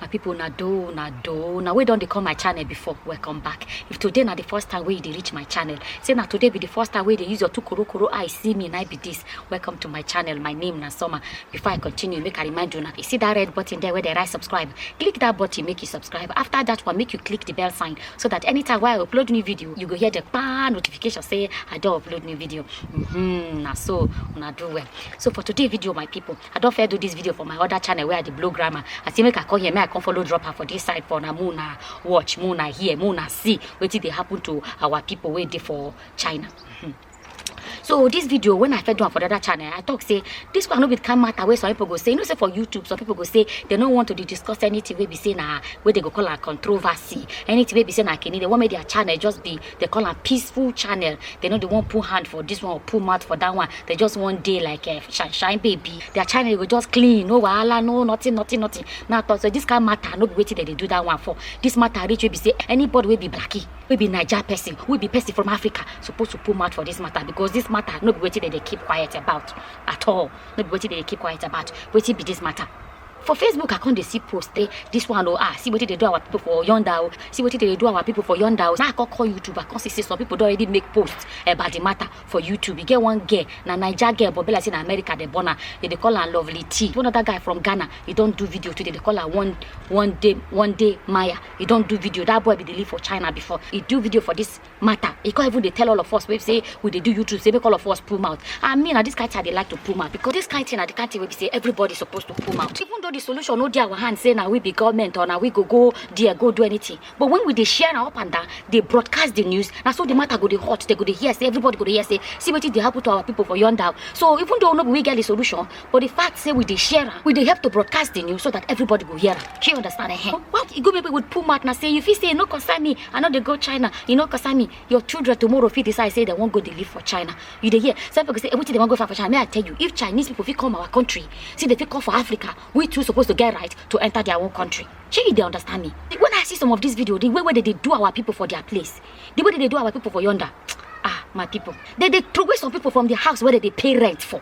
my people na do na do na we don dey come my channel before welcome back if today na the first time wey you dey reach my channel say na today be the first time wey you dey use your two korokoro eye see me na I be this welcome to my channel my name na summer before i continue make i remind you na you see that red button there wey dey write subscribe click that button make you subscribe after that one make you click the bell sign so that anytime wey i upload new video you go hear the pa notification say i don upload new video mm -hmm, na so una do well so for today video my people i don fair do this video for my other channel where i dey blow grammar i say make i come here make i come follow drop am for this side for na make una watch make una hear make una see wetin dey happen to our people wey dey for china Mhm. so this video when i first do am for the other channel i talk say this one no be the kind matter wey some people go say you know say for youtube some people go say they no want to dey discuss anything wey be say na wey they go call am controversy anything wey be say na kini they wan make their channel just be they call am peaceful channel they no dey wan put hand for this one or put mouth for that one they just wan dey like uh, shine shine baby their channel go just clean no wahala no nothing nothing nothing na talk so this kind matter no be wetin dem dey do that one for this matter reach wey be say anybody wey be blackie wey be naija person wey be person from africa suppose to put mouth for this matter because this matter no be wetin dem dey keep quiet about at all no be wetin dem dey keep quiet about wetin be this matter for facebook i come dey see post say this one oh ah see wetin dey do our people for yonder oh see wetin dey do our people for yonder oh na i come call youtube i come see say some people don already make post about the matter for youtube e get one girl na naija girl but be like say na america dey born am dem dey call am lovely t one other guy from ghana e don do video today dey call am one one day one day maya e don do video that boy bin dey live for china before e do video for this matter e come even dey tell all of us wey be say we dey do youtube say make all of us pull mouth and me na this kind thing i dey like to pull mouth because this kind thing na the kind thing wey be say everybody suppose to pull mouth even though the solution no dey our hand say na we be government or na we go go there go do anything but when we dey share am up and down dey broadcast the news na so the matter go dey hot they go dey hear say everybody go dey hear say see wetin dey happen to our people for yonder so even though no be we get the solution But the fact say we dey share am, we dey help to broadcast the news so that everybody go hear am. Shey you understand? Eh? Why e go make people pull mouth na say you fit say e no concern me, I no dey go China, e no concern me. Your children tomorrow fit decide say they wan go dey live for China. You dey hear? Some people go say eh, wetin they wan go find for China? May I tell you, if Chinese people fit come our country, see they fit come for Africa, we too suppose to get right to enter their own country. Shey you dey understand me? The- When I see some of this video, the way wey they dey do our people for their place, the way they dey do our people for yonder, ah my people, they dey throway some people from the house where they dey pay rent for.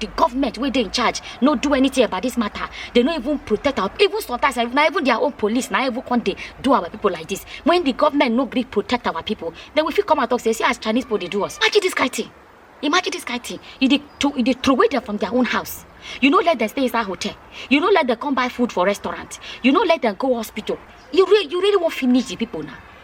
the government wey dey in charge no do anything about this matter they no even protect our even sometimes na even their own police na even come dey do our people like this when the government no gree protect our people then we fit come out talk say see as chinese people dey do us imagine this kind thing imagine this kind thing you dey to you dey throway them from their own house you no let them stay inside hotel you no let them come buy food for restaurant you no let them go hospital you really you really wan finish the people na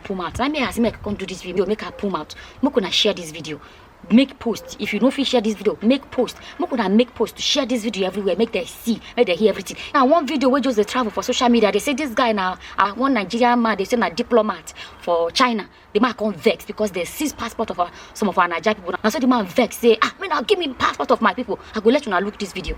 pull mouth na me as me come do this video make i pull mouth make una share this video make post if you no fit share this video make post make una make post share this video everywhere make dem see make dem hear everything na one video wey just dey travel for social media dey say this guy na uh, one nigerian man dey say na diplomat for china the man come vex because dem seize passport of our, some of our naija people na so the man vex say ah make una give me passport of my people i go let una look this video.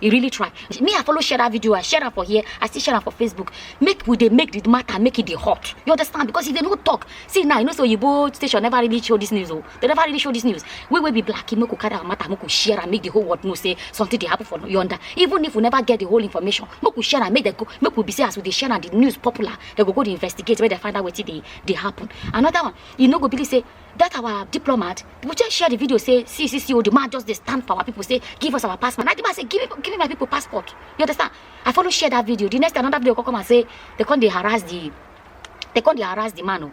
e really try me i follow share that video i share am for here i still share am for facebook make we dey make the matter make e dey hot you understand because if they no talk see now you know say oyibo station never really show this news o they never really show this news we wey be black make we carry our matter make we share am make the whole world know say something dey happen for yonder even if we never get the whole information make we share am make dem go make we be say as we dey share am the news popular dem go go dey investigate make dem find out wetin dey dey happen another one you no go believe say that our diplomat we just share the video say see see see oh the man just dey stand for our people say give us our passport na the man say give me give me my people passport you understand i follow share that video the next day another video go come and say they come dey harass the they come dey harass the man o.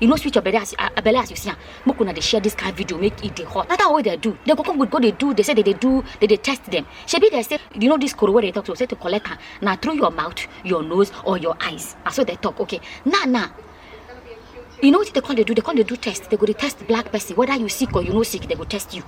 you no sweet your belle as you ah, belle as you see am make una dey share this kind video make e dey hot na that way dey do dey go come go dey do dey say dey dey do dey dey test dem shebi dey say you know this koro wey dey talk so say to collect am na through your mouth your nose or your eyes na so dey talk okay now now you know wetin dey come dey do dey come dey do test dey go dey test black person whether you sick or you no sick dey go test you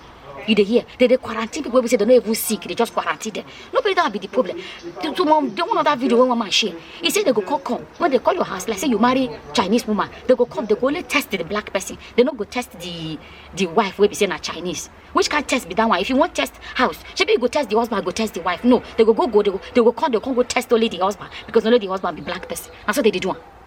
you dey hear they dey quarantine people wey be say they no even sick they just quarantine them no be that be the problem the two mom the one other video wey one man share he say they go come come when they call your house like say you marry chinese woman they go come they go only test the black person they no go test the the wife wey be say na chinese which kind test be that one if you wan test house shebi you go test the husband go test the wife no they go go go they go they go come they go come go test only the husband because only the husband be black person na so they dey do am.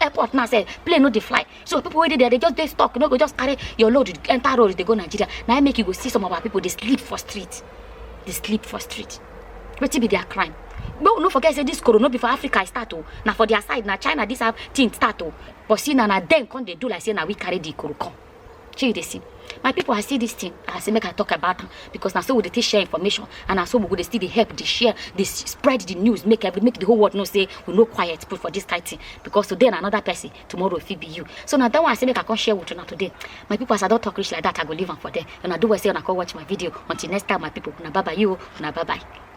airport now say plane no dey fly so people wey dey there dey just dey stuck you no go just carry your load enter road dey go nigeria na im make you go see some of our people dey sleep for street dey sleep for street wetin be their crime no no forget say this corona no be for africa e start o na for their side na china this thing start o but see na na dem come dey do like say na we carry the koro come. shey you dey see my people i see this thing i say make i talk about am because na so we dey take share information and na so we go dey still dey help dey share dey s- spread the news make every make the whole world know say we no quiet put for this kind thing because today na another person tomorrow e fit be you so na that one i say make i come share with una today my people as i don talk reach like that i go leave am for there una do well say una come watch my video until next time my people una bye bye you o, una bye bye.